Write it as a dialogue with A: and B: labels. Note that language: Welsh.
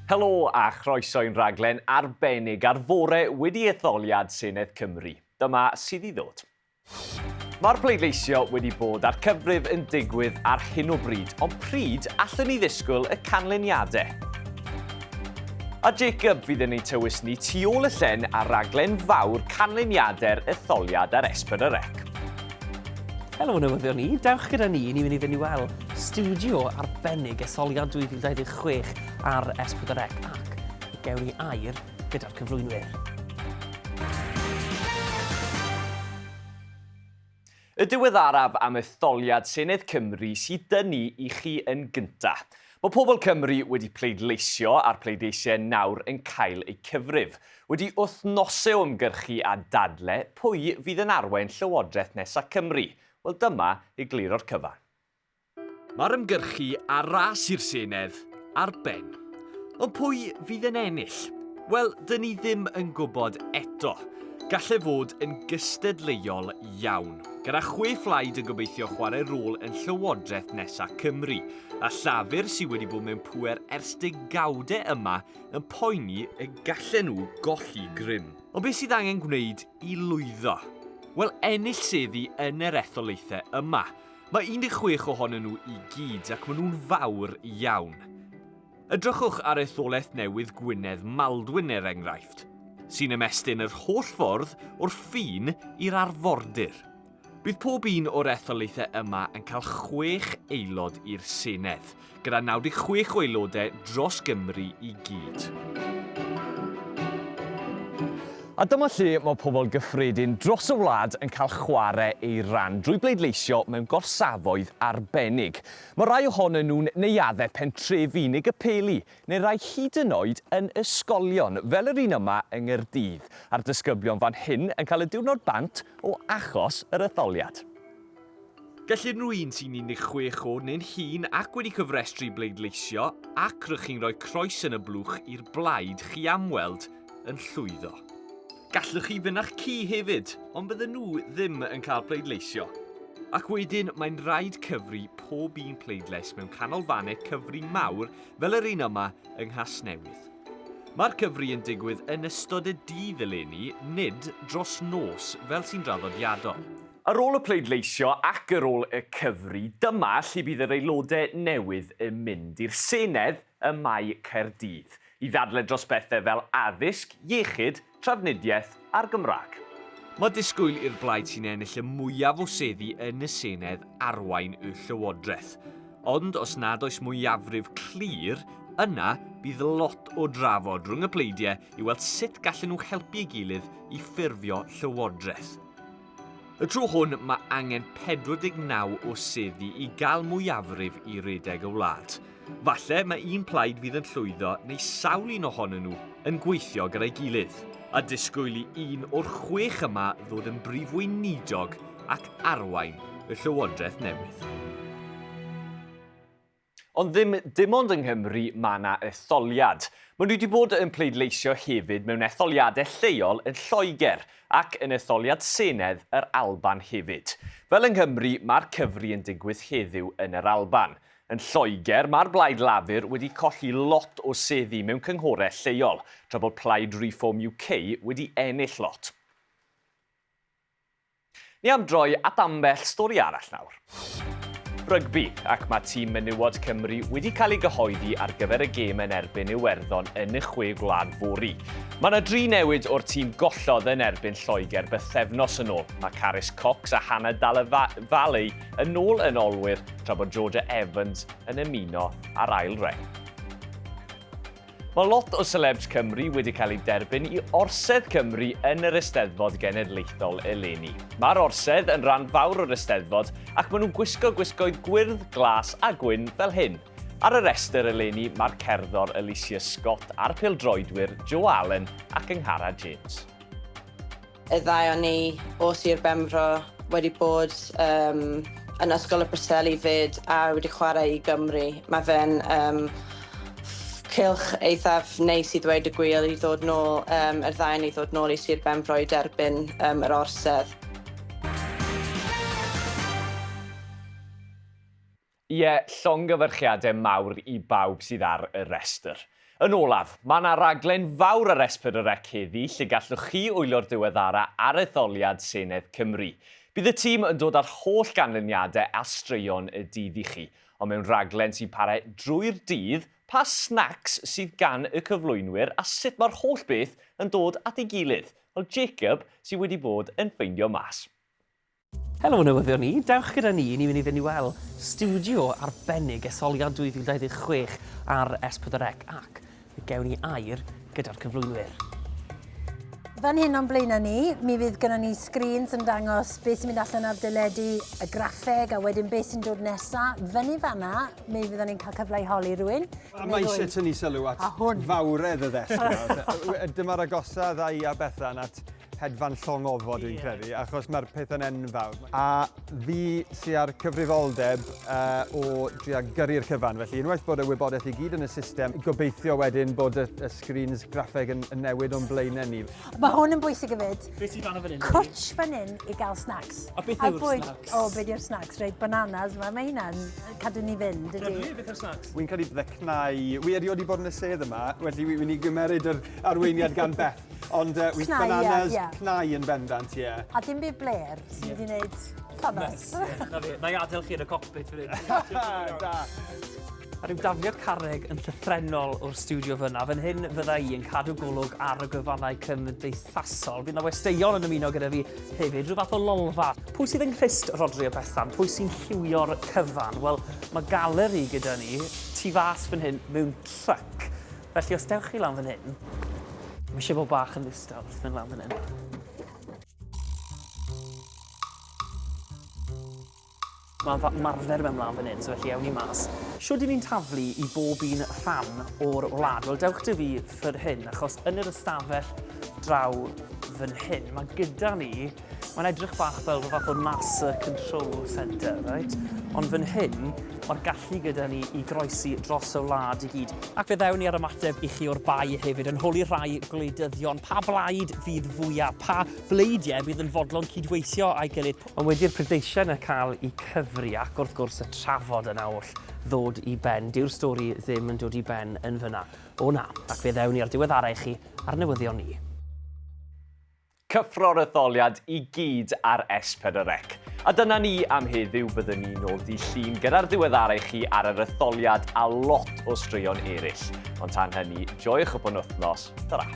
A: Helo a chroeso i'n rhaglen arbennig ar fore wedi etholiad Senedd Cymru. Dyma sydd i ddod. Mae'r pleidleisio wedi bod a'r cyfrif yn digwydd ar hyn o bryd, ond pryd allwn ni ddisgwyl y canlyniadau? A Jacob fydd yn ei tywys ni tu ôl y llen ar raglen fawr canlyniadau'r etholiad ar Esbon y Rec.
B: Helo newyddion ni, dewch gyda ni, ni'n mynd i fynd i weld studio arbennig etholiad 2026 ar S4C ac gewn ni air gyda'r cyflwynwyr.
A: Y diweddaraf am etholiad Senedd Cymru sydd dynnu i chi yn gyntaf. Mae pobl Cymru wedi pleidleisio a'r pleidleisiau nawr yn cael eu cyfrif. Wedi wythnosau o ymgyrchu a dadle pwy fydd yn arwain Llywodraeth nesaf Cymru? Wel dyma i glir o'r cyfan. Mae'r ymgyrchu ar ras i'r Senedd ar ben. Ond pwy fydd yn ennill? Wel, dyn ni ddim yn gwybod eto. Gall e fod yn gystadleuol iawn, gyda chwe phlaid yn gobeithio chwarae rôl yn Llywodraeth nesa Cymru, a Llafur sydd wedi bod mewn pŵer ers degawdau yma yn poeni y gallen nhw golli grym. Ond beth sydd angen gwneud i lwyddo? Wel, ennill seddi yn yr etholaethau yma. Mae 16 ohonyn nhw i gyd ac maen nhw'n fawr iawn. Edrychwch ar etholaeth newydd Gwynedd Maldwyn er enghraifft, sy'n ymestyn yr holl ffordd o'r ffin i'r arfordir. Bydd pob un o'r etholaethau yma yn cael chwech aelod i'r Senedd, gyda 96 o aelodau dros Gymru i gyd. A dyma lle mae pobl gyffredin dros y wlad yn cael chwarae eu rhan drwy bleidleisio mewn gorsafoedd arbennig. Mae rhai ohonyn nhw'n neuaddau pentrefi unig y peli, neu rai hyd yn oed yn ysgolion, fel yr un yma yng Nghaerdydd, a'r disgyblion fan hyn yn cael y diwrnod bant o achos yr etholiad. Gall unrhyw un sy'n 16 oed neu'n hŷn ac wedi cyfrestru i bleidleisio ac rydych chi'n rhoi croes yn y blwch i'r blaid chi am weld yn llwyddo. Gallwch chi fynd â'ch ci hefyd, ond bydden nhw ddim yn cael pleidleisio. Ac wedyn, mae'n rhaid cyfri pob un pleidlais mewn canolfannau cyfri mawr fel yr un yma yng Nghasnewydd. Mae'r cyfri yn digwydd yn ystod y dydd eleni, nid dros nos fel sy'n draddodiadol. Ar ôl y pleidleisio ac ar ôl y cyfri, dyma lle bydd yr aelodau newydd yn mynd, i'r Senedd ym Mae Caerdydd, i ddadlau dros bethau fel addysg, iechyd, trafnidiaeth a'r Gymraeg. Mae disgwyl i'r blaid sy'n ennill y mwyaf o seddi yn y Senedd arwain y Llywodraeth. Ond os nad oes mwyafrif clir, yna bydd lot o drafod rhwng y pleidiau i weld sut gallen nhw helpu ei gilydd i ffurfio Llywodraeth. Y tro hwn mae angen 49 o seddi i gael mwyafrif i redeg y wlad. Falle mae un plaid fydd yn llwyddo neu sawl un ohonyn nhw yn gweithio gyda'i gilydd. A disgwyl i un o'r chwech yma ddod yn brif weinidog ac arwain y llywodraeth newydd. Ond ddim dim ond yng Nghymru mae yna etholiad. Maen nhw wedi bod yn pleidleisio hefyd mewn etholiadau lleol yn Lloegr ac yn etholiad Senedd yr Alban hefyd. Fel yng Nghymru, mae'r cyfri yn digwydd heddiw yn yr Alban. Yn Lloegr, mae'r Blaid Lafur wedi colli lot o seddi mewn cynghorau lleol, tra bod Plaid Reform UK wedi ennill lot. Ni am droi at ambell stori arall nawr. Rygbi, ac mae tîm menywod Cymru wedi cael ei gyhoeddi ar gyfer y gêm yn erbyn Iwerddon yn y Chwe Gwlad fory. Mae yna dri newid o'r tîm gollodd yn erbyn Lloegr bythefnos yn ôl. Mae Carys Cox a Hannah Dalevalley yn ôl yn olwyr, tra bod Georgia Evans yn ymuno ar ail reng. Mae lot o selebs Cymru wedi cael eu derbyn i Orsedd Cymru yn yr Eisteddfod Genedlaethol eleni. Mae'r Orsedd yn rhan fawr o'r Eisteddfod ac maen nhw'n gwisgo gwisgoedd gwyrdd, glas a gwyn fel hyn. Ar y restr eleni mae'r cerddor Alicia Scott a'r pildroedwyr Joe Allen ac Ynghara James.
C: Y ddau o ni o Sir Benfro wedi bod um, yn Ysgol y Preseli fyd a wedi chwarae i Gymru. Mae fe'n um, cylch eithaf neis i ddweud y gwir i ddod nôl, um, yr ddain i ddod nôl i Sir Benfro i derbyn um, yr orsedd.
A: Ie, llongyfarchiadau mawr i bawb sydd ar y rhestr. Yn olaf, mae 'na raglen fawr ar Esper y Rec heddi lle gallwch chi wylio'r diweddara ar etholiad Senedd Cymru. Bydd y tîm yn dod â'r holl ganlyniadau a straeon y dydd i chi, ond mewn rhaglen sy'n para drwy'r dydd, pa snacs sydd gan y cyflwynwyr a sut mae'r holl beth yn dod at ei gilydd? Wel, Jacob sydd wedi bod yn ffeindio mas. Helo
B: newyddion i, dewch gyda ni, ni'n mynd i fynd i weld stiwdio arbennig etholiad 2026 ar S4C ac fe gewn ni air gyda'r cyflwynwyr.
D: Fan hyn o'n blaenau ni, mi fydd gyda ni screens yn dangos beth sy'n mynd allan ar deledu, y graffeg a wedyn beth sy'n dod nesaf. Fyny fanna, mi fyddwn ni'n cael cyfle i holi rhywun. A mae eisiau tynnu
E: sylw at fawredd y ddesg. Dyma'r agosaf dda i a Bethan at hedfan llong ofod dwi'n credu, achos mae'r pethau'n enfawr. A fi sy'n ar cyfrifoldeb uh, o drio gyrru'r cyfan, felly unwaith bod y wybodaeth i gyd yn y system, gobeithio wedyn bod y, y screens graffeg yn, yn newid o'n blaenau ni. Mae hwn yn bwysig i
D: fyd. Be sy'n fan o fan hyn? Cwtch
B: fan hyn i
D: gael snacks. A beth yw'r snacks?
B: O, oh, beth yw'r snacks?
D: Rhaid bananas, mae ma hynna'n cadw ni fynd. Dwi, beth yw'r snacks? Wy'n cael ei
B: ddecnau.
E: Wy erioed wedi bod yn y sedd yma, felly wy'n i gymeryd yr arweiniad gan Beth. Ond yy wi... Cnau ia. ...bananas cnau
D: yn
E: bendant ie. A dim byd blêr
D: sy wedi neud ffynnos. Ie, 'na fe. Na'i adel
B: chi yn y cockpit fan 'yn. Da.
E: A ryw
B: dafliad carreg yn llythrennol o'r stiwdio fyna. Fan hyn fydda i yn cadw golwg ar y gwefannau cymdeithasol. Bydd 'na westeion yn ymuno gyda fi hefyd, rhyw fath o lolfa. Pwy sydd yng nghrist Rhodri a Bethan? Pwy sy'n lliwio'r cyfan? Wel, mae galeri gyda ni tu fas fan hyn mewn truck. Felly os dewch chi lan fan hyn, mae eisiau bod bach yn ddistaw wrth mynd lan fan hyn. Mae'n marfer mewn lan fan hyn, so felly ewn ni mas. Siwr dyn ni'n taflu i bob un rhan o'r wlad? Wel, dewch dy fi ffyr hyn, achos yn yr ystafell draw fan hyn, mae gyda ni Mae'n edrych bach fel fath o NASA Control Centre, right? Ond fan hyn, mae'r gallu gyda ni i groesi dros y wlad i gyd. Ac fe ddewn ni ar ymateb i chi o'r bai hefyd yn holi rhai gwleidyddion pa blaid fydd fwyaf, pa bleidiau fydd yn fodlon cydweithio a'i gilydd. Ond wedi'r prydleisiau yna cael eu cyfri ac wrth gwrs y trafod yna oll ddod i ben, dyw'r stori ddim yn dod i ben yn fyna. O na, ac fe ddewn ni ar diweddarau i chi ar newyddion ni. Cyffro'r
A: etholiad i gyd ar S4C. A dyna ni am heddiw, byddwn ni nôl di llun gyda'r ddiweddarau chi ar yr etholiad a lot o straeon eraill. Ond tan hynny, joiwch y penwythnos. Ta-ra!